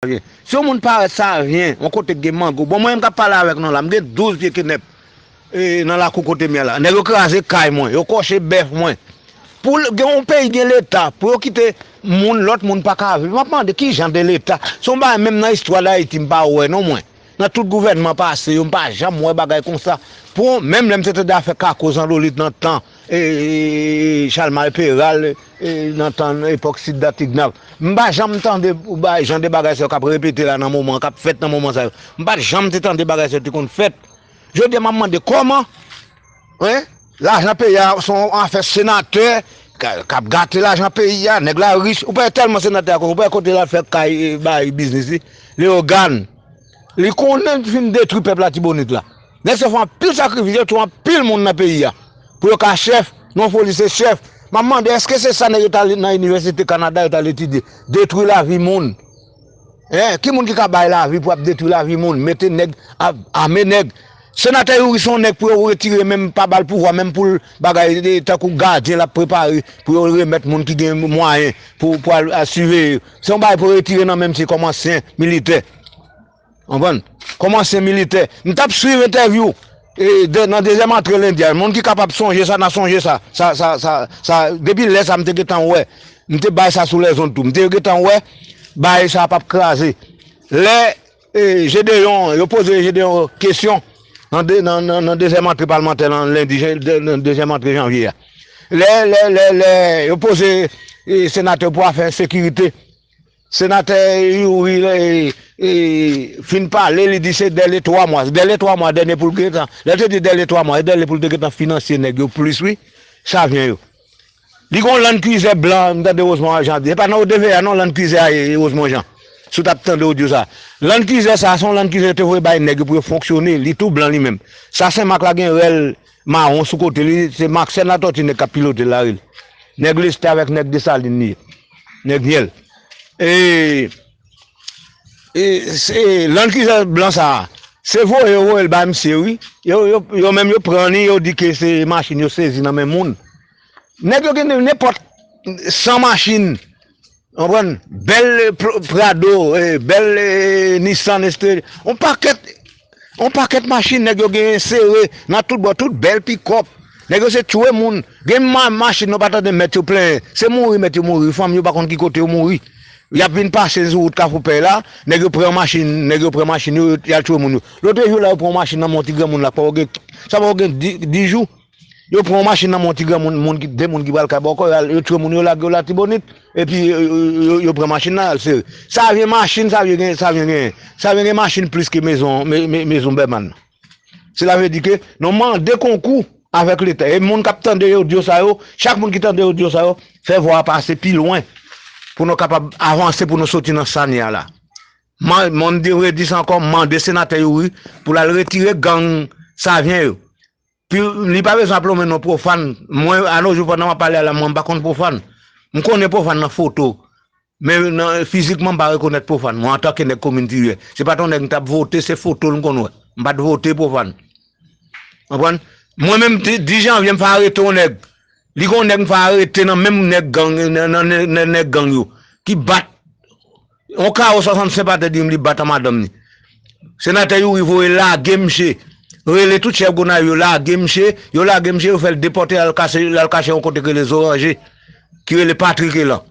Si yon moun parèt sa a ryen, yon kote k gen mango, bon mwen menm k ap pale avèk nou la, m gen 12 pye kenèp, E nan lakou kotem ye la. Nèg yo kraze kay mwen, yo kòche bèf mwen. Pou gen yon peyi gen leta, pou yo kite moun, lòt moun pa ka viv. Map mande ki jan de leta? Se yon bagay menm nan istwa Dayiti m pa wè non mwen. Nan tout gouvènman pase yo m pa janm wè bagay konsa. Pou yon, menm lè m te tande afè kako zandolit nan tan e Chalmay Peral e nan tan epòk Sid Dan Tignav. M pa janm tande jan de bagay sa yo kap repete la nan moman, kap fèt nan moman sa yo. M pat janm te tande bagay sa yo te konn fèt. Jodi a map mande koman hein lajan peyi a son afè senatè kap gate lajan peyi a nèg la rich ou pa wè telman senatè a ou pa wè kote lap fè kay bay biznis li leogane li konnen li fin detwi pèp latibonit la nèg sa fè anpil sakrifis yo tue anpil moun nan peyi a pou yo ka chèf non foli se chèf map mande eske se sa nèg yo tal nan inivèsite kanada yo tal etidye detwi lavi moun. Eh ki moun ki ka bay lavi pou ap detwi lavi moun mete nèg ap ame nèg senatè youri son nèg pou yo retire menm pa bal pouvwa menm poul bagay tankou gadyen lap prepare pou yo remèt moun ki gen mwayen pou pwal siveye se yon bagay pou yo retire nan menm misye kòm ansyen militè konprann kòm ansyen militè mtap swiv entèvyou E nan dezyèm antre lendi a, moun ki kapab sonje sa nan sonje sa, sa, sa, sa, sa, depi lè sa m te gentan wè, m te bay sa sou lèzond tou, m te gentan wè baay sa pap kraze. Lè e Jedeyon, yo poze Jedeyon kesyon nan de, nan, nan, nan dezyèm antre palmantè lan lendi jen, de, nan dezyèm antre janvye a. Lè, lè, lè, lè yo poze e senatè pou afè sekirite. Senatè youri fin pale li di se dèle 3 mwa dèle 3 mwa dèle poul gentan lèl te di dèle 3 mwa se dèle poul te gentan finansye nèg yo plis wi savyen yo li gon land kwizè blan m tande Rosemond Jean ap di se pa nan odeve a non land kwizè a ye Rosemond Jean si w tap tande odyo sa land kwizè sa se yon land kwizè yo te voye bay nèg yo pou yo fonksyone li tou blan li menm sa senmak la gen rèl Mawon sou kote li se maxène latòti nèg kap pilotel la rele nèg lestè avèk nèg desalin li ye nèg myèl e lann kizè blan sa se voye yo voyel bay misye wi yo menm yo pran li yo di ke se machin yo sezi nan men moun nèg yo gen nenpòt 100 machin Konprann, bèl prado, bèl nissan estre, on pakèt, on pakèt machin nèg yo genyen sere nan tout bò, tout bèl pikòp, nèg yo se tchwe moun, gen machin nou pa tande mèt yo plenyen, se mouri mèt yo mouri, fanmi yo pa konn ki kote yo mouri, yap vin pase sou wout kafou pèy la, nèg yo pran machin, nèg yo pran machin yo, yal tchwe moun yo. Lotrejou la yo pran on machin nan men on ti granmoun la, sa pa pou gen 10 jou. Yo pran yon machin nan men yon ti granmoun, moun ki, 2 moun ki pral kay bòkò, yo al, yo tchwe moun yo lage yo Latibonit, epi yo pran machin nan al sere. Savyen machin Savyen gen, Savyen genyen? Savyen gen machin plis ke mezon, mezon Bèman. Sela vle di ke nou mande konkou avèk leta. E moun k'ap tande odyo sa yo, chak moun ki tande odyo sa yo, fè vwa a pase pi lwen pou nou kapab avanse pou nou soti nan sa n ye a la. Mwen mdi, m redi sa ankò, m mande senatè Youri pou l'al retire gang Savyen yo. Li pa bezwen ap lonmen non pwofàn. Mwen anojou pandan map pale a la mwen pa konn pwofàn. M konnen pwofàn nan foto. Men nan fizikman m pa rekonèt pwofàn mwen antanke nèg komin Tiryè. Se pat yon nèg m tap vote se foto l m konn wè. M pat vote pwofàn. Konprann? Mwen menm di janvye m fè arete yon nèg. Li gen yon nèg m fè arete nan menm nèg gang nan nèg gang yo ki bat Yon kawo 65 pa te dim li bat an madanm ni. Senatè youri voye lage misye rele tout chèf gonayiv yo lage misye yo lage misye yo fèl depòte al kase lal kache yon kote ki rele zoranje ki rele patrike lan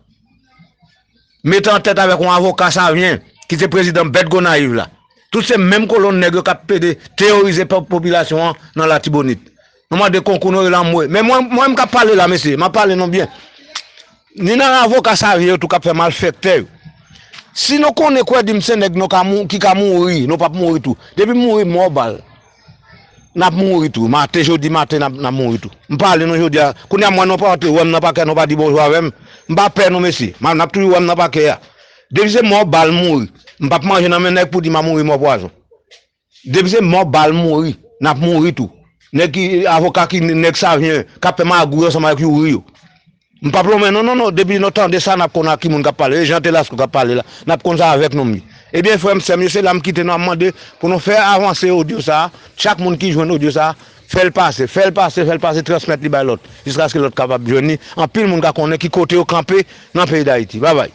mete an tèt avèk yon avoka savyen ki se prezidan bèt gonayiv la tout se menm kolonn nèg yo kap pede teyorize pèp popilasyon an nan latibonit. Nou mande konkou nou yo la mwe. Men mwen mwen kap pale la mesye, map pale nou byen. Ni nan avoka savyen yo tou kap fè malfèktè yo. Si nou konnen kwè di m se nèg nou ka mou ki ka mouri, nou pap mouri tou. Depi m mouri mò bal. Nap mouri tou. Maten jodi maten nap nap mouri tou. M pale nou jodi a. Kounye a m wè nou pati wè m nan pakè nou pa di bonjou avè m. M pa pè nou mesye. M ap nap toujou wè m nan pakè a. Depi se mò bal m mouri. M pap manje nan men nèg pou di m a mouri mò pwazon. Depi se mò bal mouri nap mouri tou nèg ki avoka ki nèg savyen kap fè magouy ansanm avèk youri yo m pap lonmen non non non depi nou tande sa nap konn a ki moun kap pale e jan telasco kap pale la nap konn sa avèk nou ebyen frèm sèm yo se la m kite nou a mande pou nou fè avanse odyo sa chak moun ki jwenn odyo sa fèl pase fèl pase fèl pase transmèt li bay lòt jiskaske lòt kapab jwenn li anpil moun ka konnen ki kote yo kanpe nan peyi dayiti babay.